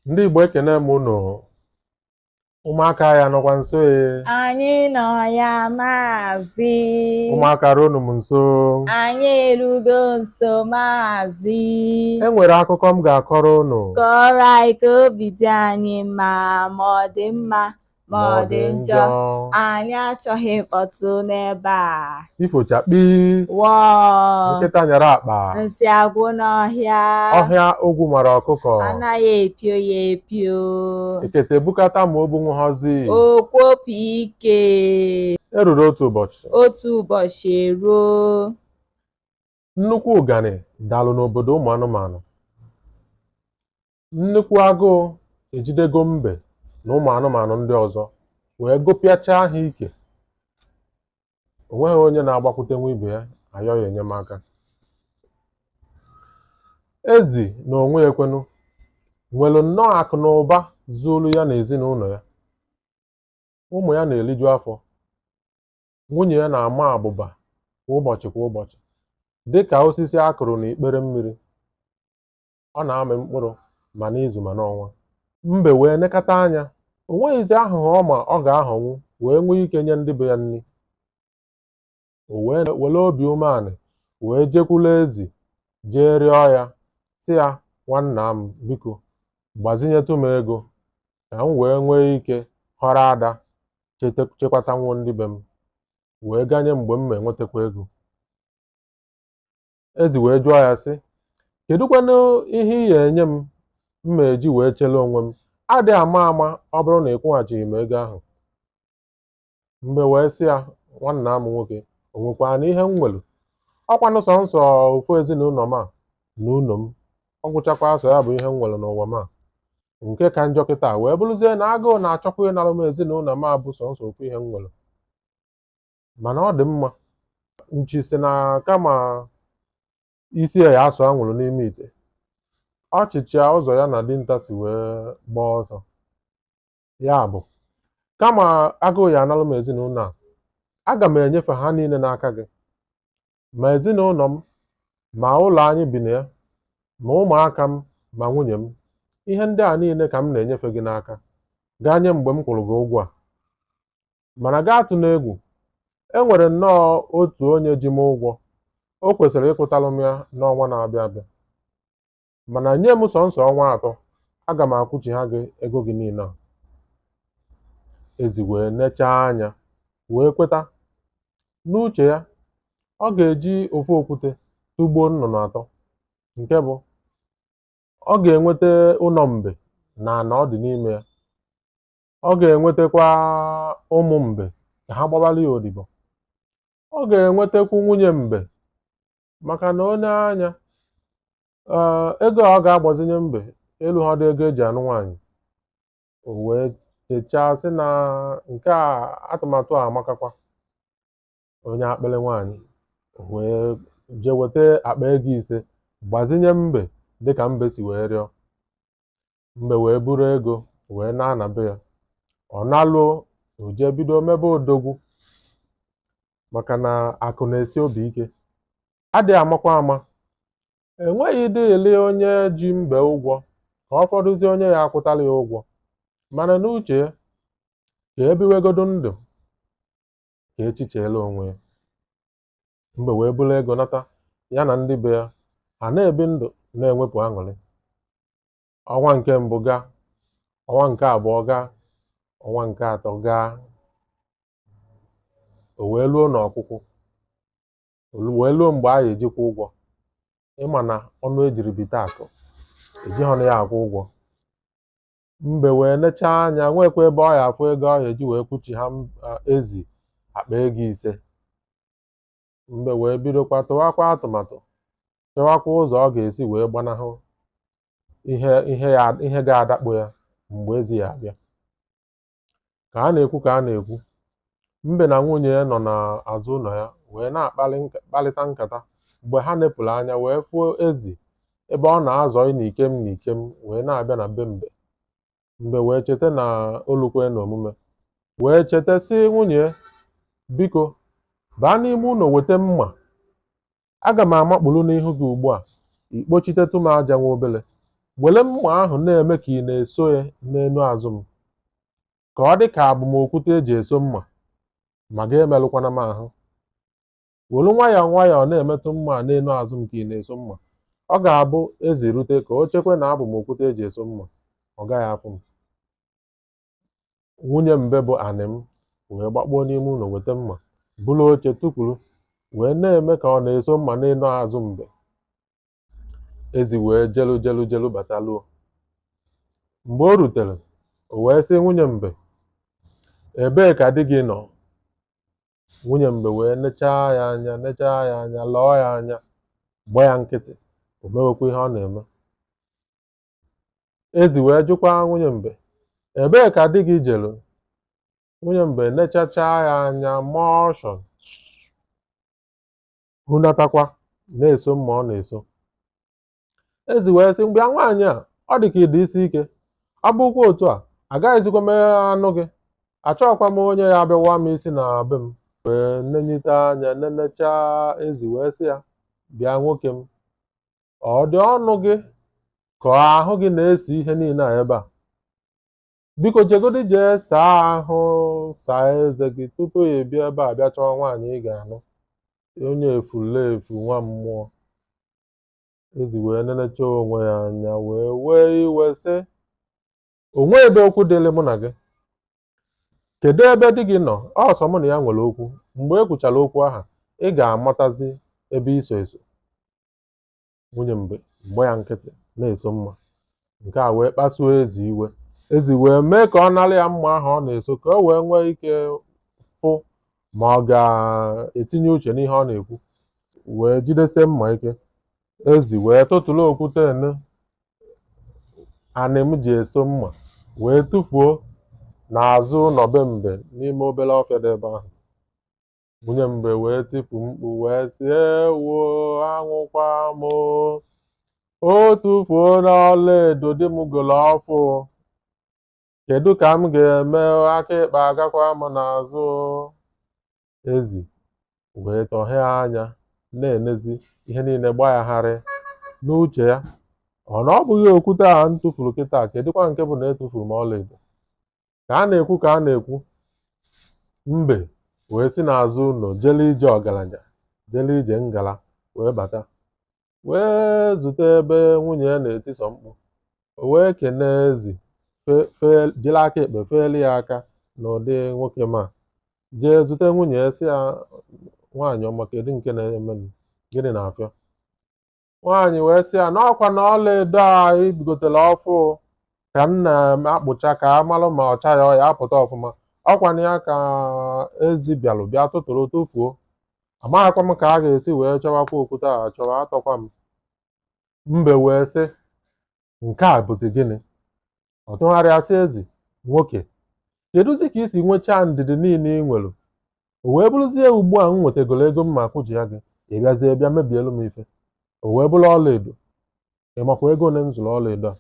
ndị Igbo ekene m unu ụmụaka ha nọkwa nso e anyị nọ ya maazị ụmụaka ruonụ m nso anyị erugo nso maazị e nwere akụkọ m ga-akọrọ unu kọọrọ anyị ka obi dị anyị mma ma ọ dị mma ma ọ dị njọ anyị achọghị mkpọtụ n'ebe a ifo chakpii wọọ nkịta nyara akpa nsị agwụ n'ọhịa ọhịa ogwu mara ọkụkọ anaghị epio ya epio ekete bukata ma o bunwughịzi o kwopu ike e ruru otu ụbọchị otu ụbọchị eruo nnukwu ụganị dalụ n'obodo ụmụ anụmanụ Nnukwu agụụ ejidego mbe na ụmụ anụmanụ ndị ọzọ wee gụpịachaa ha ike. O nweghị onye na-agbakwutenwu ibe ya ayọ ya enyemaka. Ezi na onwe ya kwanụ nwere nnọọ akụ na ụba zuolu ya na ezinụlọ ya. Ụmụ ya na-eliju afọ. Nwunye ya na-ama abụba kwa ụbọchị kwa ụbọchị dị ka osisi a kụrụ n'ikpere mmiri. ọ na-amị mkpụrụ ma n'izu ma n'ọnwa mbe wee nekata anya o nweghịzi ahụhụ ọ ma ọ ga-ahọnwu wee nwee ike nye ndị be ya nri o wee were obi umeanị wee jekwulu ezi jee rịọ ya sị ya nwanna m biko gbazinyetụ m ego ka m wee nwee ike họrọ ada chete- chekwatanwuo ndị be m wee ganye mgbe m ma-enwetakwa ego ezi wee jụọ ya sị kedụkwanụ ihe ị ya-enye m m ma-eji wee chele onwe m adị ama ama ọ bụrụ na ị kwụghachighị m ego ahụ mbe wee sị ya nwanna m nwoke o nwekwaranụ ihe m nwere ọ kwanụ sọnsọ ofu ezinụlọ m a na ụlọ m ọ gwụchakwa sọ ya bụ ihe m nwere n'ụwa m a nke ka njọ kịtaa wee bụrụzie na agụụ na-achọkwa ịnara m ezinụlọ m a bụ sọnsọ ofu ihe m nwere mana ọ dị mma nchi sị na kama isi ya ya-asụ anwụrụ n'ime ite ọ chịchịa ụzọ ya na dinta si wee gbaa ọsọ ya bụ kama agụụ ya-analụ m ezinụlọ a aga m enyefe ha niile n'aka gị ma ezinụlọ m ma ụlọ anyị bi na ya ma ụmụaka m ma nwunye m ihe ndị a niile ka m na-enyefe gị n'aka ganye mgbe m kwụrụ gị ụgwọ a Mana gị atụna egwu, e nwere nnọọ otu onye ji m ụgwọ, o kwesịrị ịkwụtalụ m ya n'ọnwa na-abịa abịa. Mana nye m sọnsọ ọnwa atọ, aga m akwụchigha gị ego gị niile a. Ezi wee nechaa anya, wee kweta. N'uche ya, ọ ga-eji ofu okwute tụgbuo nnụnụ atọ, nke bụ ọ ga-enweta ụlọ mbe na ana ọ dị n'ime ya, ọ ga-enwetakwa ụmụ mbe ka ha gbabalụ ya odibo ọ ga-enwetakwu nwunye mbe maka na o nee anya ee ego a ọ ga-agbazinye mbe eluhọdị ego eji anụ nwaanyị o wee chechaa sị na nke a atụmatụ a amakakwa onye akpịrị nwaanyị o wee jee weta akpa ego ise gbazinye mbe dịka mbe si wee rịọ mbe wee buru ego wee na-ana be ya ọ naluo o jee bido mebe odogwu maka na akụ na-esi obi ike adịghị amakwa ama enweghịdịlị onye ji mbe ụgwọ ka ọ fọdụzie onye ya-akwụtalụ ya ụgwọ mana n'uche ya ka e biwegodu ndụ ka echi cheelụ onwe ya mbe wee buru ego nata ya na ndị be ya ha na-ebi ndụ na-enwepụ aṅụrị ọnwa nke mbụ gaa ọnwa nke abụọ gaa ọnwa nke atọ gaa o wee luo n'ọkwụkwụ wee luo mgbe a ga-eji kwụa ụgwọ ị ma na ọnụ ejiri bite akụ ejihọnụ ya akwụ ụgwọ mbe wee nechaa anya nwekwa ebe ọ ya-afụ ego ọ ya-eji wee kwụchigha m- a, ezi akpa ego ise mbe wee bidokwa tụwakwa atụmatụ chọwakwa ụzọ ọ ga-esi wee gbanahụ ihe ihe ya ihe ga-adakpo ya mgbe ezi ya-abịa ka a na-ekwu ka a na-ekwu mbe na nwunye ya nọ n'azụ ụlọ ya wee na-akparị nka- kparịta nkata mgbe ha nepụrụ anya wee fụo ezi ebe ọ na-azọ ị na ikem na ikem wee na-abịa na be mbe mbe wee cheta na o lukwe na omume wee cheta sị nwunye ya, biko baa n'ime ụlọ weta mma aga m amakpụrụ n'ihu gị ugbu a i kpochitetụ m aja nwa obele were mma ahụ na-eme ka ị na-eso ya n'elu azụ m ka ọ dị ka abụ m okwute eji eso mma ma gị emerụkwana m ahụ were nwayọọ nwayọọ na-emetụ mma a n'elu azụ m ka ị na-eso mma ọ ga-abụ ezi rute ka o chekwe na abụ m okwute eji eso mma ọ gaghị afụ m nwunye mbe bụ anịm wee gbakpuo n'ime ụlọ weta mma buru oche tukwuru wee na-eme ka ọ na-eso mma n'enu azụ mbe ezi wee jelu jelu jelu bataluo mgbe o rutere o wee sị nwunye mbe ebee ka di gị nọ nwunye mbe wee nechaa ya anya nechaa ya anya lọọ ya anya gba ya nkịtị o mewekwa ihe ọ na-eme Ezi wee jụkwa nwunye mbe, Ebee ka di gị jelu? Nwunye mbe nechachaa ya anya maa ọshụ hunatakwa na-eso mma ọ na-eso. Ezi wee sị, Bịa nwaanyị a, ọ dị ka ị dị isi ike. Ọ bụrụkwa otu a, agaghịzikwa m anụ gị. Achọghịkwa m onye ya-abịa waa m isi na be m. Wee nenyite anya nenechaa ezi wee sị ya, Bịa nwoke m, ọ dị ọnụ gị ka ọ ahụ gị na-esi ihe niile a ebe a biko jegodi jee saa ahụ saa eze gị tupu ị abịa ebe a bịa chọwa nwaanyị ị ga-anụ onye efulefu nwa mmụọ ezi wee nenecha onwe ya anya wee wee iwe sị o nweghị okwu dịrị mụ na gị kedu ebe di gị nọ ọ sọ mụ na ya nwere okwu mgbe e kwuchara okwu ahụ ị ga-amatazi ebe i so eso nwunye mbe gba ya nkịtị na-eso mma nke a wee kpasuo ezi iwe ezi wee mee ka ọ nara ya mma ahụ ọ na-eso ka o wee nwee ike fụ ma ọ ga-etinye uche n'ihe ọ na-ekwu wee jidesie mma ike ezi wee tụtụrụ okwute anịm ji eso mma wee tụfuo n'azụ ụlọ be mbe n'ime obere ọfịa dị ebe ahụ Nwunye mbe wee tipu mkpu wee sị ewo anwụkwa m o. O tufuona ọla edo di m golo ọfụ. Kedu ka m ga-eme o, aka ịkpa agakwa m n'azụ o. Ezi wee tọhee anya na-enezi ihe niile gba ya gharịị. N'uche ya, ọ na ọ bụghị okwute a m tụfuru kịta kedụkwa nke bụ na etufuru m ọlaedo. ka a na-ekwu ka a na-ekwu mbe wee si n'azụ ụlọ jele ije ọgaranya jele ije ngala wee bata wee zute ebe nwunye ya na-etisọ mkpu o wee kenee ezi fe- fe- jiri aka ekpe feelu ya aka n'ụdị nwoke ma jee zute nwunye ya sị ya nwaanyị ọma kedu nke na-emenụ gịnị na-afịọ nwaanyị wee sị ya n'ọkwanụ ọla edo a i gotelu ọfụ ka m na-akpụcha ka a malụ ma ọcha ya ọ ya-apụta ọfụma ọkwanụ ya ka ezi bịalụ bịa tụtụrụ tụfuo amaghịkwa m ka a ga-esi wee chọwakwa okwute a achọwa atọkwa m mbe wee sị nke a bụzi gịnị ọ tụgharịa sị ezi nwoke kedụzi ka i si nwechaa ndidi niile ị nwere o wee bụrụzie ugbu a m nwetagoro ego m ga-akwụchigha gị ị bịazie bịa mebielu m ife o wee bụrụ ọlaedo ị makwa ego ole m zụrụ ọlaedo a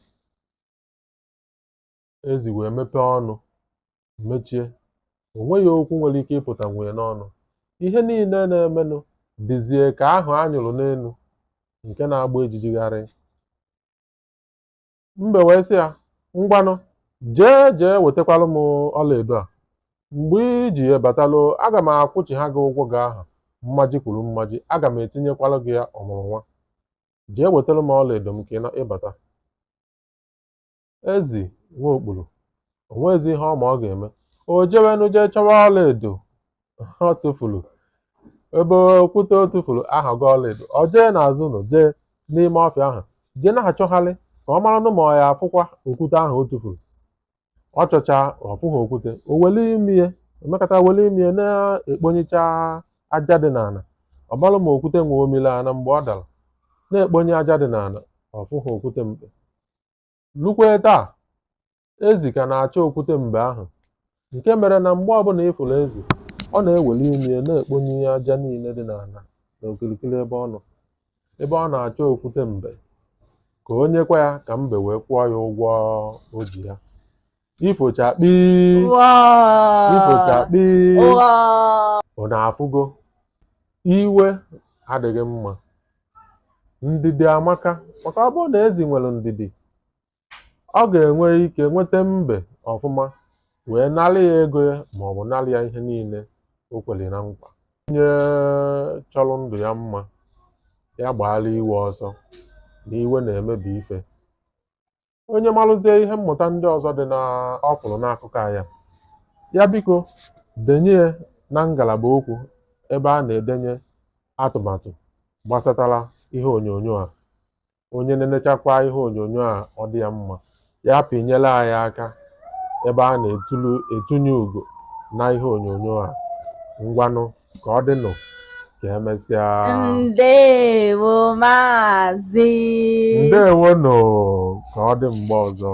ezi wee mepee ọnụ mechie o nweghị okwu nwere ike ịpụtanwu ya n'ọnụ ihe niile na-emenụ dịzie ka ahụ a nyụrụ n'elu nke na-agba ijiji gharịị mbe wee sị ya ngwanụ jee jee wetakwalụ m ọlaedo a mgbe i ji ya batalụ aga m akwụchigha gị ụgwọ gị ahụ mmaji kwuru mmaji aga m etinyekwalụ gị ya ọmụrụ nwa jee wetara m ọlaedo m ka ị bata ezi nwa okpuru o nweghịzi ihe ọ ma ọ ga-eme o jewenụ jee chọwa ọlaedo ọ tụfuru ebe okwute ọ tụfuru aghọgo ọlaedo o jee n'azụ ụlọ jee n'ime ọfịa ahụ jee na-achọgharị ka ọ maranụ ma ọ ya-afụkwa okwute ahụ ọ tụfuru ọ chọchaa ọ fụghị okwute o weli imi ya emekata weli imi ya na-ekponyecha aja dị n'ala ọ marụ ma okwute mbe o milu ana mgbe ọ dara na-ekponye aja dị n'ala ọ fụghị okwute mbe Lukwee taa, ezi ka na-achọ okwute mbe ahụ, nke mere na mgbe ọbụla ị fụrụ ezi, ọ na-eweli imi ya na-ekponye aja niile dị n'ala na okirikiri ebe ọ nọ, ebe ọ na-achọ okwute mbe, ka o nyekwa ya ka mbe wee kwụọ ya ụgwọ o ji ya. ifo chakpii ifo chakpii unu afụgo iwe adịghị mma ndidi amaka maka ọ bụrụ na ezi nwere ndidi ọ ga-enwe ike nweta mbe ọfụma wee narị ya ego ya ma ọ bụ narị ya ihe niile o kwere na nkwa onye chọrọ ndụ ya mma ya gbaara iwe ọsọ na iwe na-emebi ife onye malụzie ihe mmụta ndị ọzọ dị na ọ fụrụ n'akụkọ anyị a ya biko denye ya na ngalaba okwu ebe a na-edenye atụmatụ gbasatara ihe onyonyo a onye nenechakwaa ihe onyonyo a ọ dị ya mma ya pịnyelu anyị aka ebe a na-etunye ugo na ihe onyonyo a ngwanụ ka ọ dịnụ ka emesịa ndewo maazị ndewo nụ ka ọ dị mgbe ọzọ